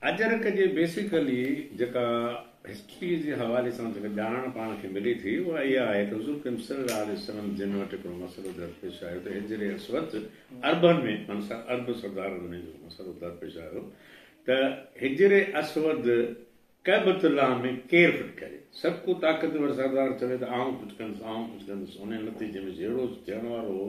اجرڪ جي بيسيڪلي جيڪا هسٽري جي حوالي سان جيڪا ڄاڻڻ پاڻ کي ملي ٿي اها اها آهي ته حضور ڪريم صلي الله عليه وسلم جن وٽ هڪڙو مسئلو درپيش آيو ته هجري اسود عربن ۾ معنيٰ عرب سردارن ۾ جيڪو مسئلو درپيش آيو ته هجري اسود ڪعبة الله ۾ ڪير فٽ ڪري سڀ ڪو طاقتور سردار چوي ته آئون فٽ ڪندس آئون فٽ ڪندس انهي نتيجي ۾ جهيڙو ٿيڻ وارو هو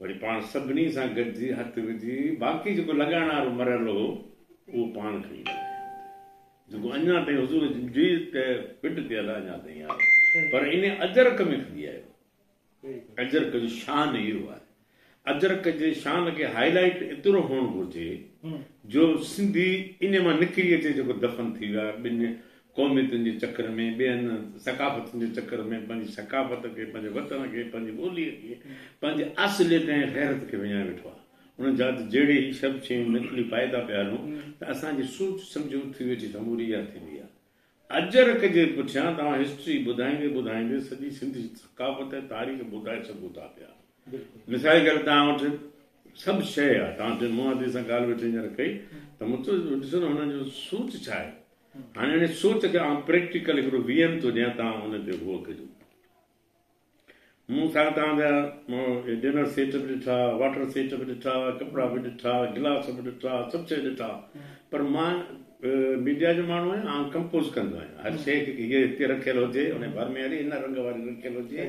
وري پاڻ سڀني سان گڏجي هٿ وجهي باقي جيڪو لڳائڻ وارو مرحلو هو اهو پاڻ کڻي لڳايائون جيڪو اڃا تائين حضور جي ته پٽ تي ادا اڃا تائين آهي پر ان اجرڪ ۾ کڻي آيو اجرڪ جو شان اهو آهي اجرڪ جي شان کي هاء لائٽ ايترو هئڻ گهرجي جو سنڌي ان مان نڪري اچي جيڪو دفن ٿي ويا ٻن قوميتن جي چڪر ۾ ٻين ثقافتن جي چڪر ۾ پنهنجي ثقافت کي پنهنجي وطن کي پنهنجي ٻولي کي پنهنجي اصليت ۽ غيرت کي وڃائي ويٺو آهي ان جاته جهڙي هي سڀ شيون نقلي پائيدا پيا هلون ته اسان جي سوچ سمجهه اٿي ويٺي سموري اها ٿيندي آهي اجرڪ جي پٺيان توهان هسٽري ٻڌائيندي ٻڌائيندي سڄي سنڌ جي ثقافت ۽ تاريخ ٻڌائي سگهو ٿا پيا. مثال ڪري تان وٽ سڀ شيء آ تان جن مون عادي سان ڳالھ ويٺي ھينئر ڪئي ته مون چيو ڏسو نه ھن جو سوچ ڇا آھي ھاڻي انھي سوچ کي آئون پريڪٽيڪل ھڪڙو وي ايم ٿو ڏيان تان ان تي غور ڪجو مون سان تان جا ڊنر سيٽ به ڏٺا واٽر سيٽ به ڏٺا ڪپڙا به ڏٺا گلاس به ڏٺا سڀ شيء ڏٺا پر مان ميڊيا جو ماڻھو آھيان آئون ڪمپوز ڪندو آھيان ھر شيء کي ھيء ھتي رکيل ھجي ان بھر ۾ ھلي ھن رنگ واري رکيل ھجي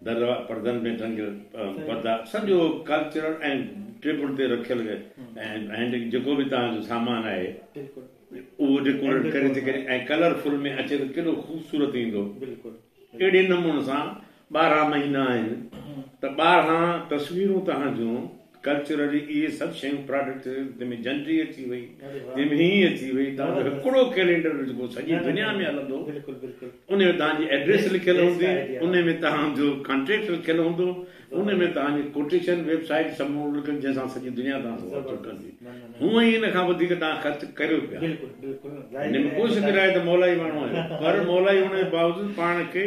در پردن ۾ ڍنگ پردا سڄو ڪلچرل ۽ ٽيبل تي رکيل ۽ جيڪو به توهان جو سامان آهي اهو ڊيڪوريٽ ڪري ٿي ڪري ۽ ڪلر فل ۾ اچي ته ڪيڏو خوبصورت ايندو اهڙي نموني سان ٻارهن مهينا آهن ته ٻارهن تصويرون توهان جون ڪلچرلي اهي سڀ شيون پراڊڪٽ جنهن ۾ جنڊي اچي وئي جنهن ۾ هينئين اچي وئي توهان جو هڪڙو ڪيلينڊر جيڪو سڄي دنيا ۾ هلندو ان ۾ توهان جي ائڊريس لکيل هوندي ان ۾ توهان جو ڪانٽيڪٽ لکيل هوندو ان ۾ توهان جي ڪوٽيشن ويب سائيٽ سڀ ماڻهو لکن جنهن سان سڄي دنيا توهان سان واچو ڪندي هونئن ئي ان کان وڌيڪ توهان خرچ ڪريو پيا ان ۾ ڪوشش ڪرائي ته مولائي ماڻهو آهيو پر مولائي هئڻ جي باوجود پاڻ کي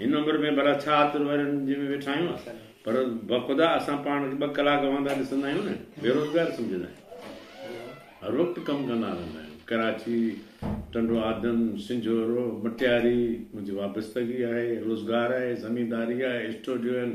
هن عمر ۾ ڀلا ڇا عطر وارين جنهن ۾ ويٺا آهيون پر بخدا اسان پاڻ کي ٻه ڪلاڪ وهندا ڏسندا آهيون نه بيروزگار سمجهندا آهيون هر وقت ڪم ڪندا رهندا آهيون ڪراچي ٽنڊو آدم سنجهورو مٽياري منهنجي وابستگي آهي روزگار آهي زمينداري آهي اسٽوڊيو آهن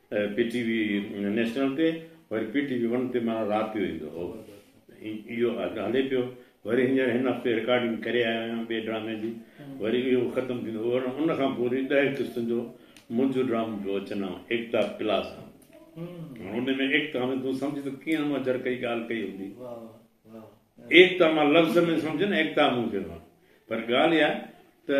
پي ٽي وي نيشنل تي وري پي ٽي وي ون تي ماڻهو رات جو ايندو هو اهو اڳ هلي پيو وري هينئر هن هفتي رڪارڊنگ ڪري آيو آهيان ٻئي ڊرامي جي وري اهو ختم ٿيندو ان کان پوء وري ڏهه قسطن جو منهنجو ڊرامو پيو اچن آئون ايڪتا پلاس آئون هاڻ ان ۾ ايڪتا ۾ تون سمجھ ته ڪيئن مون جر ڪئي ڳالهه ڪئي هوندي ايڪتا مان لفظ ۾ سمجھ نه ايڪتا مون چيو پر ڳالهه اها ته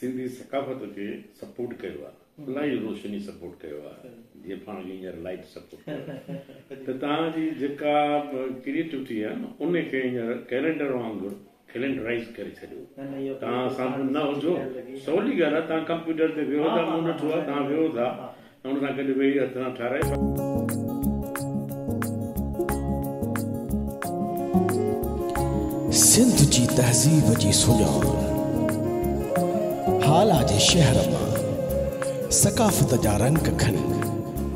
سنڌي ثقافت کي سپورٽ ڪيو آ الاهي روشني سپورٽ ڪيو آ جيئن پاڻ کي هينئر لائٽ سپورٽ ڪيو آ ته توهان جي جيڪا ڪريئيٽوٽي آ نه ان کي هينئر ڪيلينڊر وانگر ڪيلينڊرائيز ڪري ڇڏيو توهان سان نه هجو سولي ڳالهه آ توهان ڪمپيوٽر تي ويهو ٿا مون ڏٺو آ توهان ويهو ٿا ان سان گڏ ويهي هٿ سان ٺارائي. سنڌ جي تهذيب جي سڃان هالا جي شهر مان ثقافت جا رنگ کڻي.